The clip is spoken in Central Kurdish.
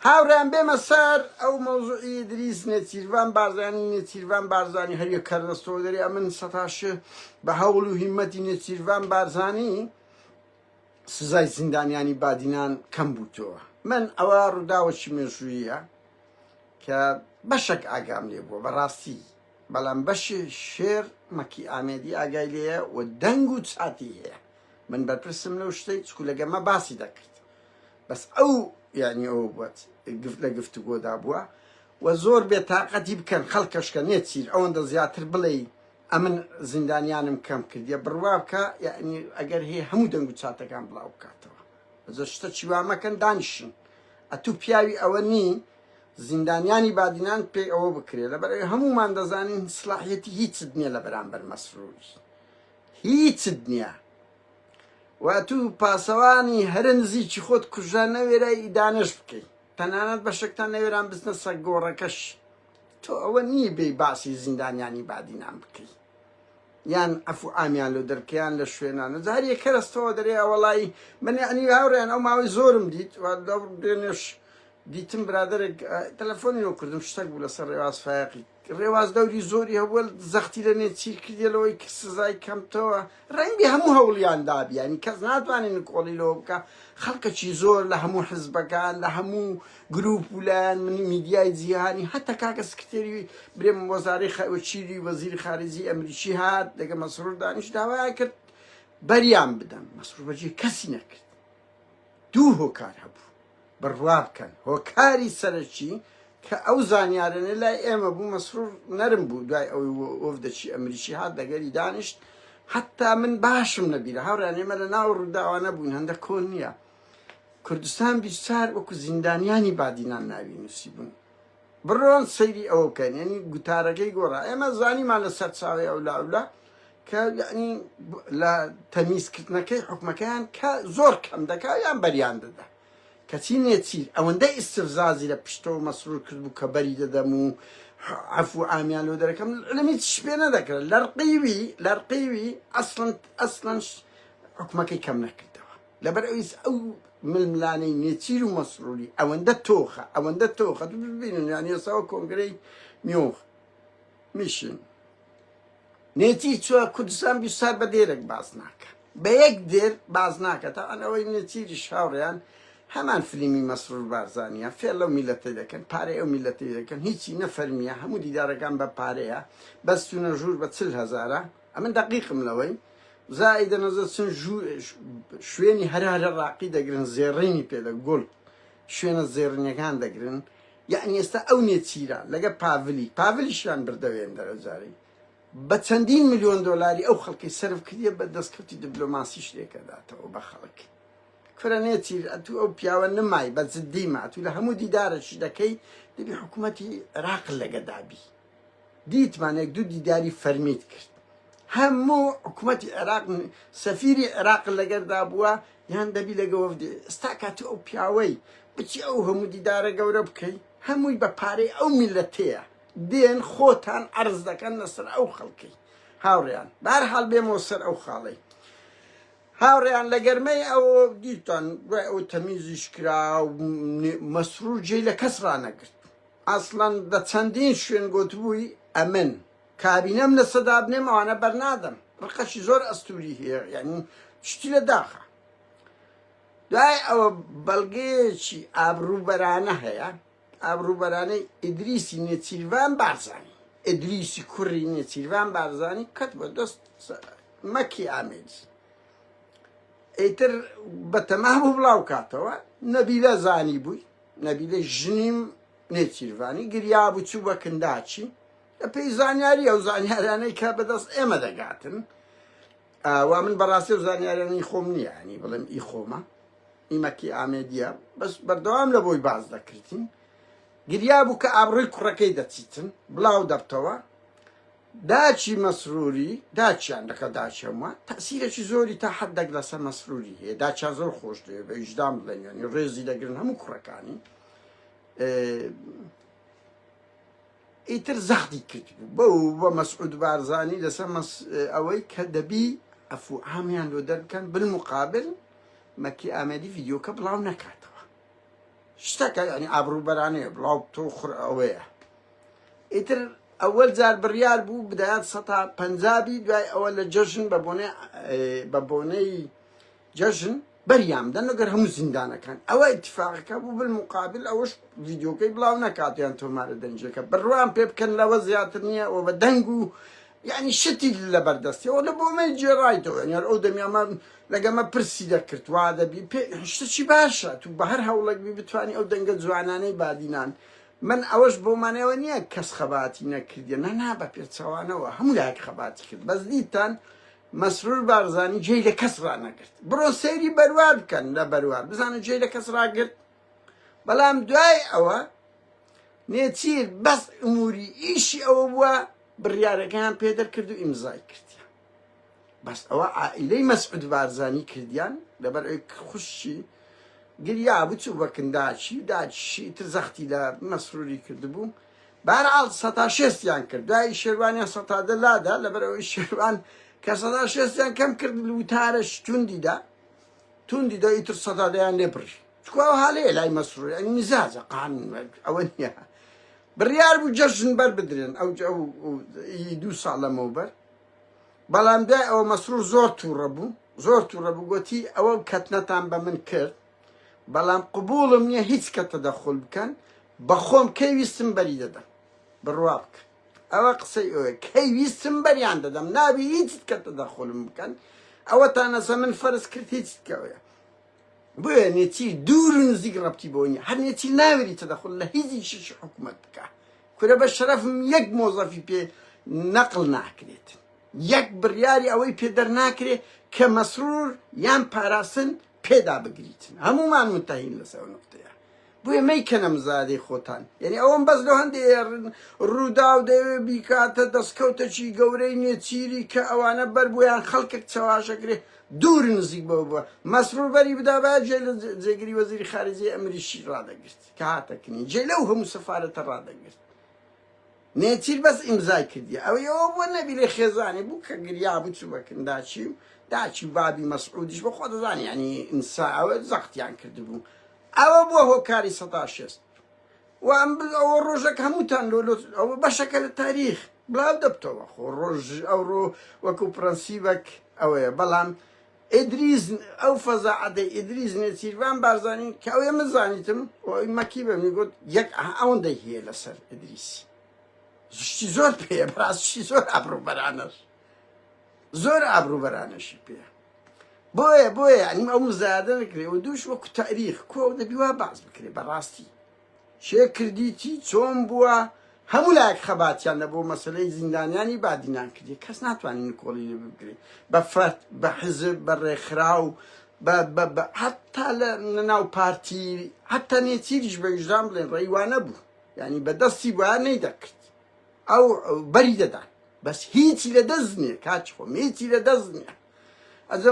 هاورێیان بێمە سەر ئەو مەوزوعی ئیدریس نێچیرڤان بارزانی نێچیرڤان بارزانی هەر یەک کەر دەستەوە دەرێ ئەمن سەتا ش بە هەوڵ و هیمەتی نێچیرڤان بارزانی سزای زیندانیانی بادینان کەم بووتەوە من ئەوە ڕووداوەکی مێژوویە کە بەشک ئاگام لێ بووە بەڕاستی بەڵام بەشی شێر مەکی ئامێدی ئاگای لێە و دەنگ و چاتی هەیە من بەرپرسم لەو شتەی چکو لەگەمە باسی دەکرد بەس ئەو یانی ئەوە بووت گفت لە گفتوگۆدا بووە و زۆر بێ تاقەتی بکەن خەڵکەشکە نێچیر ئەوەندە زیاتر بڵێی ئەمن زیندانیانم کەم کردیە بڕوا بکە یعنی ئەگەر هەیە هەموو دەنگ و چاتەکان بڵاو بکاتەوە زۆر شتە چیوامەکەن دانیشن ئەتوو پیاوی ئەوە نی زیندانیانی بادینان پێی ئەوە بکرێ لە بەرەوەی هەمومان دەزانین سلاحەتی هیچت نییە لە بەرامبەر مەسرور هیچت نییە وە تو پاسەوانی هەرە نزیکی خۆت کوژرا نەوێرای ئیدانەش بکەی تەنانەت بەشەکتان نەوێران بچنە سەگ گۆڕەکەش تۆ ئەوە نی بێی باسی زیندانیانی بادینان بکەی یان عفو ئامیان لۆ دەرکەیان لە شوێنان و زار یەک کەرەستەوە دەرێ ئەوەڵی من یعنی هاوڕێن ئەو ماوەی زۆرم دیت دێنێش دیتم برادێک تەلەفۆنی لۆ کردم شتەک بوو لەسەر ڕێواز فایقی رێواز دەوری زۆری هەبووە زەختی لە نێچیر کردیە لەوەی کە سزای کەمتەوە رەنگبێ هەموو هەوڵیان دابی یانی کەس ناتوانێت نکۆڵی لەوە بکە خەڵکەکی زۆر لە هەموو حزبەکان لە هەموو گروپ و لایەن منی میدیای جیهانی هەتا کاکە سکرتێری برێم وەزارەی خەوەچیری وەزیری خارجی ئەمریکی هات لەگە مەسرور دانیش داوایان کرد بەریان بدەن مەسرور بەجێ کەسی نەکرد دوو هۆکار هەبوو بڕوا بکەن هۆکاری سەرەکی کە ئەو زانیارەنە لای ئێمە بوو مەسرور نەرم بوو دوای ئەوەی وەفدەکی ئەمریکی هات لەگەری دانیشت حتا من باشم نەبیرە هاوڕیان ئێمە لە ناو ڕووداوانە بووین هەندە کۆن نییە کوردستان بیرچار وەکو زیندانیانی بادینان ناوی نووسی بوون بڕۆن سەیری ئەوە بکەن یعنی گوتارەکەی گۆڕا ئێمە زانیمان لە سەر چاوی ئەو لاولا کە یعنی لە تەمیزکردنەکەی حکومەکەیان کە زۆر کەم دەکا یان بەریان دەدا کەچی نێچیر ئەوەندە ئیسفزازی لە پشتەوە مەسرور کرد بوو کە بەری دەدەم و عفو ئامیان لۆ دەرەکەم لەمی شپێ نەدەکرد لەرقیوی لەرقیوی ئەسڵند ئەسڵەنش حکومەکەی کەم نەکردەوە لەبەر ئەویس ئەو ململانێی نێچیر و مەسروری ئەوەندە تۆخە ئەوەندە تۆخە دوو ببینن یان یەساوە کۆنگرەی نیۆخ میشن نێچیر چوە کوردستان بی سار بە دێرێک باز ناکە بە یەک دێر باز ناکە تا ئەنەوەی نێچیری شاوڕیان هەمان فلیمی مەسرور بارزانە فێر لەو میلەتی دەکەن پارەی ئەو میلەتی دەکەن هیچی نەفەرمیە هەموو دیدارەکان بە پارەیە بەستونە ژوور بە چل هزارە ئەمن دەقیقم لەوەی زای دەنەزە چن شوێنی هەرا لە ڕاقی دەگرن زێڕینی پێدە گۆل شوێنە زێڕنیەکان دەگرن یعنی ئێستا ئەو نێچیرە لەگە پاڤلی پاڤلیشیان بردەوێن دەرەجاری بە چەندین میلیۆن دلاری ئەو خەڵکی سرف کردە بە دەستکەوتی دبلۆماسی شتێکەداتەوە بە خەڵک کورە نێچیر ئەتو ئەو پیاوە نمای بە جددیمە ئەتو لە هەموو دیدارەشی دەکەی دەبی حکوومەتی عراق لەگەدابی دیتمان یەک دوو دیداری فەرمیت کرد هەموو حکومەتی عێراق سەفیری عێراق لەگەردا بووە یان دەبی لەگە وەفدی ئستا کاتی ئەو پیاوەی بچی ئەو هەموو دیدارە گەورە بکەی هەمووی بە پارەی ئەو میلەتەیە دێن خۆتان عرض دەکەن لەسەر ئەو خەڵکی هاوڕیان بار حال بێمەوە سەر ئەو خاڵی هاوڕیان لە گەرمەی ئەو دیتان دوای ئەو تەمیزیش کرا مەسرور جێ لە کەس ڕانەگرت ئەسڵەن لە چەندین شوێن گۆتبووی ئەمن کابینەم لەسە دابنێم ئەوانە بەرنادەم ڕقەشی زۆر ئەستوری هەیە یانی شتی لە داخە دوای ئەوە بەڵگەیەکی ئابروبەرانە هەیە ئابروبەرانەی ئیدریسی نێچیرڤان بارزانی ئیدریسی کوڕی نێچیرڤان بارزانی کەت بە دەست مەکی ئامێدی ئیتر بەتەما بوو بڵاو کاتەوە نەبیلە زانی بووی نەبیلەی ژنیم نێچیرڤانی گریابوو، چوو بە کنداچی، بە پێی زانیاری ئەو زانیارانەی کە بەدەست ئێمە دەگاتن، وا من بەڕاستی ئەو زانیارانی خۆم نییە، ینی بڵێم ئی خۆمە، ئی مەکی ئامێدییە، بەس بەردەوام لە بۆی باس دەکردین، گریابوو کە ئابڕووی کوڕەکەی دەچیتن، بڵاو دەبتەوە، داچی مەسروری، داچیان لەگەڵ داچی هەمووان تەئسیرێکی زۆری تا حەددەک لەسەر مەسروری هەیە، داچیان زۆر خۆش دەوێ بە ویژدان بڵێن یانی ڕێزی دەگرن هەموو کوڕەکانی ئیتر زەختی کرد بەو بە مەسعود بارزانی لەسەر ئەوەی کە دەبی ئەفو عامیان لۆ دەربکەن بالمقابل مەکی ئامەدی ڤیدیۆکە بڵاو نەکاتەوە. شتەکە یعنی ئابڕوو بەرانەیە بڵاو تۆ خڕ ئەوەیە ئیتر ئەوەل جار بڕیار بوو بدات سەتا پەنجابی دوای ئەوە لە جەژن بە بۆنێ بە بۆنەی جەژن بەریام دەنەگەر هەموو زیندانەکان ئەوە اتفاقەکە بوو بل مقابل ئەوەش ڤیددیوکەی بڵاو نەکاتیان تۆمارە دەنجەکە بڕوان پێ بکەن لەوە زیاتر نییە ئەوە بە دەنگ و یانی شتی لەبەر دەستی ئەو لە بۆمەی جێرایتەوە یانی هەر ئەو دەمیامە لەگەمە پرسی دەکرد وا دەبی پێ شتەچی باشە تو بە هەر هەوڵێک بی بتوانی ئەو دەنگە جوانانەی بادینان من ئەوەش بۆمانەوە نییە کەس خەباتی نەکردە نە نا بە پێچەوانەوە هەموو لایەک خەباتی کرد بەس دیتان مەسرور بارزانی جێی لە کەس ڕانەگرت بڕۆ سەیری بەروار بکەن لە بەروار بزانە جێی لە کەس ڕاگرت بەڵام دوای ئەوە نێچیر بەس ئموری ئیشی ئەوە بووە بڕیارەکەیان پێ دەرکرد و ئیمزای کردیان بەس ئەوە عائیلەی مەسعود بارزانی کردیان لەبەر ئەوی خوشی گریا بچوو بە کنداچی و داچشی تر زەختی لە مەسروری کردبوو بارعاڵ سەتا شێستیان کرد دوای شێوانیان سەتا دەلادا لەبەر ئەوی شێوان کە سەدا شێستیان کەم کرد لوتارە شتوندیدا توندی دا ئیتر سەدا دەیان لێ بڕی چکوا هاالەیە لای مەسرور ئەنی مزاجە قان ئەوە نیە بڕیار بوو جەژن بەر بدرێن ئەو دوو ساڵ لەمەوە بەر بەڵام دوای ئەوە مەسرور زۆر تووڕە بوو زۆر تووڕە بوو گوتی ئەوە کەتنەتان بە من کرد بەڵام قبولم نییە هیچ کەتە دەخۆل بکەن بەخۆم کەی ویستم بەری دەدەم بڕوا بکەن ئەوە قسەی ئەوێ کەی ویستم بەریان دەدەم نابی هیچت کە تەدەخولم بکەن ئەوە تا نەسە من فەرز کرد هیچت کەوەیە بۆیە نێچیر دوور و نزیک ڕەبتی بۆ نیە هەر نێچیر ناوێری تەدەخول لە هیچی شش حکومەت بکە کورە بە شەرەفم یەک مۆزەفی پێ نەقل ناکرێت یەک بڕیاری ئەوەی پێ دەرناکرێت کە مەسرور یان پاراستن پێدا بگریتن هەموومان متهین لەسەر ئەو نقطەیە بۆیە مەیکەنە مزادەی خۆتان یعنی ئەوەم بەس لە هەندێ ڕووداو دەوێ بیکاتە دەستکەوتەکی گەورەی نێچیری کە ئەوانە بەر بۆیان خەڵکێک چەواشەکرێ دوور نزیک بەو بووە مەسرور بەری بدا با جێ لە جێگری وەزیری خارجی ئەمریشی ڕادەگرت کە هاتەکنی جێ لەو هەموو سەفاەتە ڕادەگرت نێچیر بەس ئیمزای کردیە ئەوەی ئەوە بوە نەبیرێ خێزانی بو کە گریا بو چو بە کنداچی و داچی و بابی مەسعودیش بە خۆ دەزانی یانی ئینسا ئەوە زەقتیان کردبو ئەوە بوە هۆکاری سەدا شێست و ئەم ئەوە ڕۆژەک هەمووتان لۆ لۆ ئەوە بەشەکە لە تاریخ بلاو دەبتەوە خۆ ڕۆژ ئەو ڕۆ وەکو پرەنسیبەک ئەوەیە بەڵام ئیدریس، ئەو فەزا عەدەی ئیدریس نێچیرڤان بارزانی کە ئەوێ من زانیتم و ئەوی مەکی بە منی گوت یەک ئه ئەوەندەی هەیە لە سەر ئیدریس شتی زۆر پێیە بەڕاست شتی زۆر ئابڕووبەرانەش زۆر ئابڕووبەرانەشی پێیە بۆیە بۆیە یانی ئەو مزایادە نەکرێ و دووش وەکو تاریخ کۆ دەبی وا بەعس بکرێ بەڕاستی کێ کردیتی چۆن بووە هەموو لایەک خەباتیان لە بۆ مەسەلەی زیندانیانی بادینان کردی کەس ناتوانین نکۆڵی لێ بگرێ بە فەرد بە حزب بە ڕێکخراو بە بە بە حتا لە ناو پارتی حتا نێچیریش بە ویژدان بڵێن ڕێوانە بوو ینی بە دەستی وایە نەی دەکرد ئەو بەری دەدان بەس هیچی لە دەست نییە کاچ خۆم هیچی لە دەست نییە ئەزم